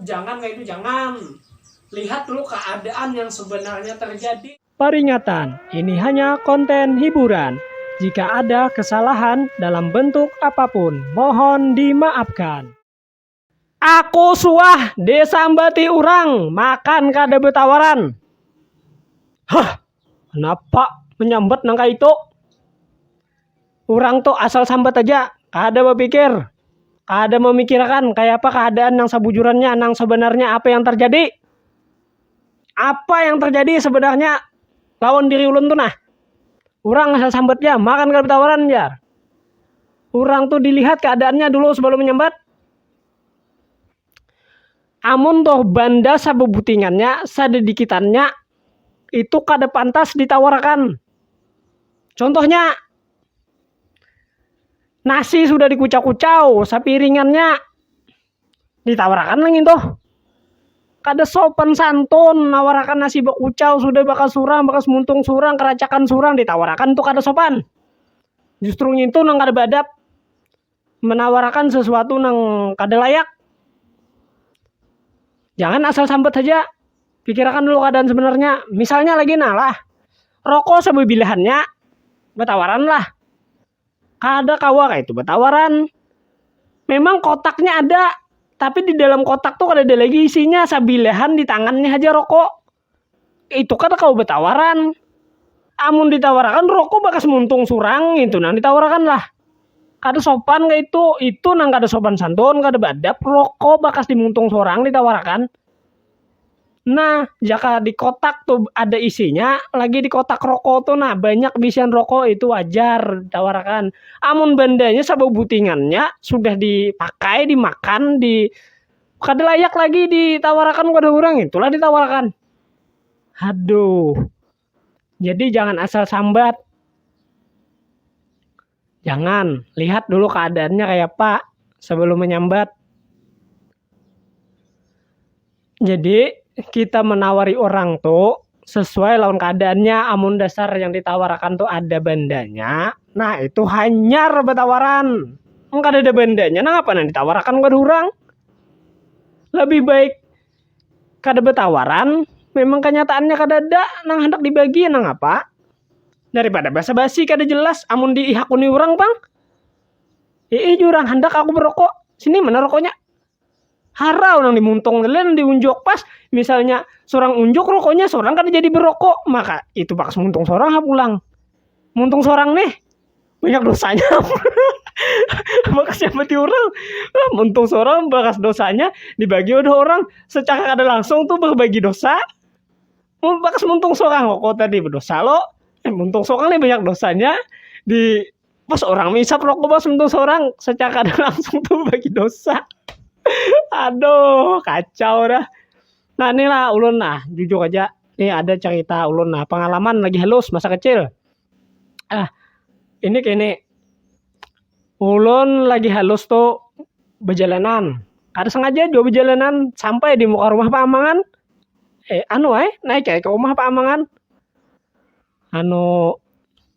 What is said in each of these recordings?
Jangan kaitu jangan. Lihat dulu keadaan yang sebenarnya terjadi. Paringatan, ini hanya konten hiburan. Jika ada kesalahan dalam bentuk apapun, mohon dimaafkan. Aku suah disambati urang makan kada betawaran. Huh, kenapa menyambat nang kaitu? urang tu asal sambat haja, kada bapikir, kada mamikirakan kayapa kaadaan nang sabujurannya, nang sabanarnya apa yang terjadi, apa yang terjadi sebenarnya lawan diri ulun tu nah, urang asal sambat ja makan kada batawaran jar, urang tu dilihat kaadaannya dulu sebelum menyambat, amun tuh banda sabubutingannya sadadikitannya itu kada pantas ditawarakan contohnya nasi sudah dikucau-kucau sapiringannya ditawarakan lah ngintu kada sopan santun nawarakan nasi bakucau sudah bakas surang bakas muntung surang karacakan surang ditawarakan tu kada sopan justru ngintu nang kada baadab. menawarakan sesuatu nang kada layak jangan asal sambat haja pikirakan dulu keadaan sebenarnya misalnya lagi nah lah roko sebebilahannya betawaran lah kada kawa kaitu betawaran memang kotaknya ada tapi di dalam kotak tu kadada lagi isinya sabilahan di tangannya haja roko. itu kada kawa batawaran amun ditawarakan rokok bakas muntung surang ngitu nang ditawarakan lah kada sopan kaitu itu nang kada sopan santun kada beadab rokok bakas di muntung sorang ditawarakan nah jaka di kotak tu ada isinya lagi di kotak rokok tu nah banyak bisian rokok itu wajar ditawarakan amun bandanya sababutingannya sudah dipakai dimakan di kada layak lagi ditawarakan kepada orang itulah ditawarakan aduh jadi jangan asal sambat jangan lihat dulu keadaannya kayak apa sebelum menyambat jadi kita menawari orang tuh sesuai lawan keadaannya amun dasar yang ditawarakan tuh ada bandanya nah itu hanyar batawaran amun kada ada bandanya nah apa nang ditawarakan kada urang lebih baik kada batawaran memang kenyataannya kadada nang handak dibagi nang apa daripada basa basi kada jelas amun dihakuni urang pang, hiih jar urang handak aku barokok sini mana rokoknya. harau nang dimuntung tadi lah nang diunjuk pas misalnya sorang unjuk rokoknya sorang kada jadi berokok maka itu bakas muntung sorang ha pulang muntung sorang nih banyak dosanya bakas nyambatin urang lah muntung sorang bakas dosanya dibagi oleh orang secara kada langsung tu berbagi dosa mun bakas muntung sorang rokok tadi bedosa lo muntung sorang nih banyak dosanya di. pas orang menghisap rokok pas mentung seorang secara kada langsung tuh bagi dosa aduh kacau dah nah nih lah ulun nah jujur aja nih ada cerita ulun nah pengalaman lagi halus masa kecil ah ini kini ulun lagi halus tuh bejalanan kada sengaja jua bejalanan sampai di muka rumah paamangan eh anu ai naik ai ke rumah paamangan anu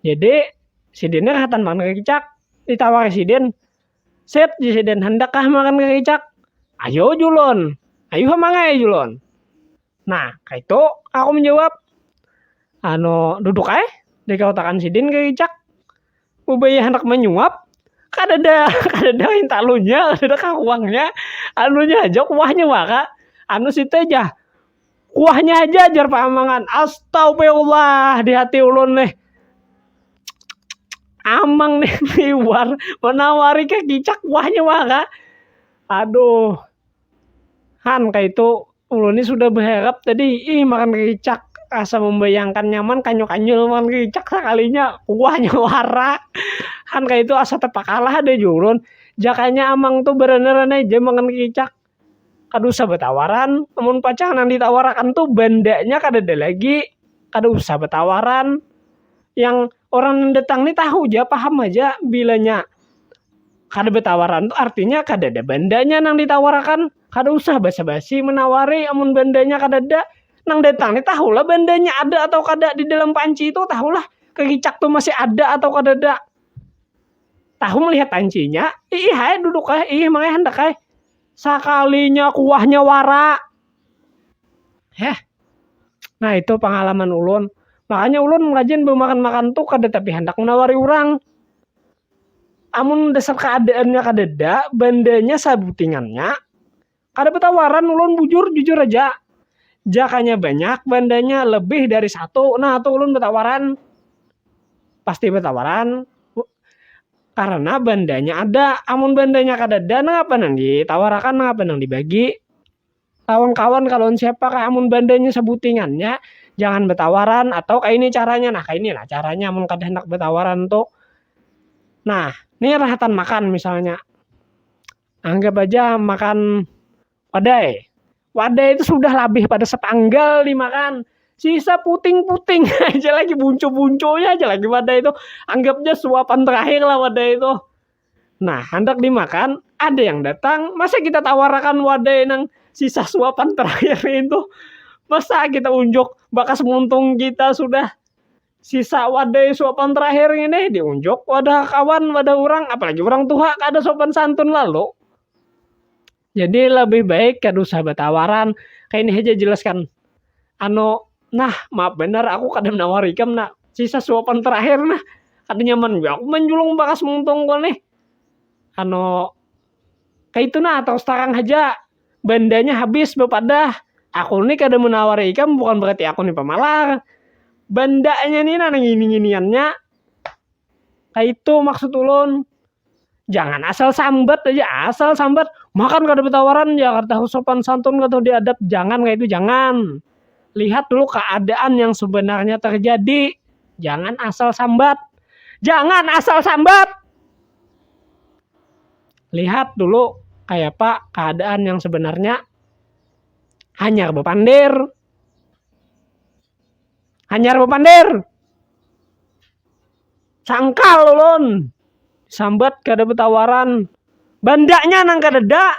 Jadi, sidin ni rahatan makan kakicak. Ditawari sidin, Sip, jar sidin, handakkah makan kakicak? Ayo uju ulun. Ayu ha mangai uju ulun. Nah, kaytu aku manjawab. Anu, duduk ai. Dikautakan sidin kakicak. Bubaya handak manyuap, kadada kadada hintalunya, kadada kakuangnya. Anunya haja, kuahnya wara. Anu situ ja, Kuahnya aja jar Pak Amangan. Astagfirullah di hati ulun nih. Amang nih liwar menawari ke kicak kuahnya maka. Aduh. Han kayak itu ulun ini sudah berharap tadi ih makan kicak asa membayangkan nyaman kanyol-kanyol makan kicak sekalinya kuahnya wara han kayak itu asa terpakalah ada jurun jakanya amang tuh berenang-renang aja makan kicak Kada usah batawaran, amun pacang nang ditawarakan tu bandanya kadada lagi, kada usah batawaran, yang orang nang datang ni tahu ja paham haja bilanya kada batawaran tu artinya kadada bandanya nang ditawarakan, kada usah basa-basi manawari amun bandanya kadada, nang datang ni tahu lah bandanya ada atau kada didalam panci tu tahu lah kecicak tu masih ada atau kadada. tahu melihat ancinya ih hai duduk hai ih mangai handak hai sakalinya kuahnya wara heh nah itu pengalaman ulun makanya ulun rajin bemakan makan tuh kada tapi handak menawari orang amun dasar keadaannya kadada bandanya sabutingannya. Kada batawaran ulun bujur, jujur haja. Jakanya banyak bandanya lebih dari satu, nah tu ulun batawaran. Pasti batawaran, karena bandanya ada. Amun bandanya kadada nangapa nang ditawarakan, nangapa nang dibagi. Lawan kawan kah, lawan siapa kah, amun bandanya sabutingannya jangan batawaran atau kaini caranya. Nah kaini nah caranya mun kada handak batawaran tu. Nah, ni rahatan makan misalnya. anggap aja makan wadai wadai itu sudah lebih pada sepanggal dimakan sisa puting-puting aja lagi buncu-buncunya aja lagi wadai itu anggapnya suapan terakhir lah wadai itu nah hendak dimakan ada yang datang masa kita tawarakan wadai nang sisa suapan terakhir itu masa kita unjuk bakas muntung kita sudah Sisa wadai suapan terakhir ini diunjuk wadah kawan, wadah orang, apalagi orang tuha kada sopan santun lalu. Jadi lebih baik kada usah batawaran. Kayak ini aja jelaskan. Anu, nah maaf benar aku kada menawar ikam nak. Sisa suapan terakhir nah. Kada nyaman jua aku manjulung bakas muntung ku nih. Anu, kaya itu nah, tarus tarang haja. bandanya habis bapadah aku ni kada menawari ikam bukan berarti aku ni pamalar bandanya ni nang ngini-nginiannya kaitu maksud ulun jangan asal sambat aja asal sambat makan kada betawaran ya kada tahu sopan santun kada tahu diadab jangan kaitu jangan lihat dulu keadaan yang sebenarnya terjadi jangan asal sambat jangan asal sambat. lihat dulu kayak apa keadaan yang sebenarnya hanyar bepander hanyar bepander sangkal ulun sambat kada betawaran bandaknya nang kadada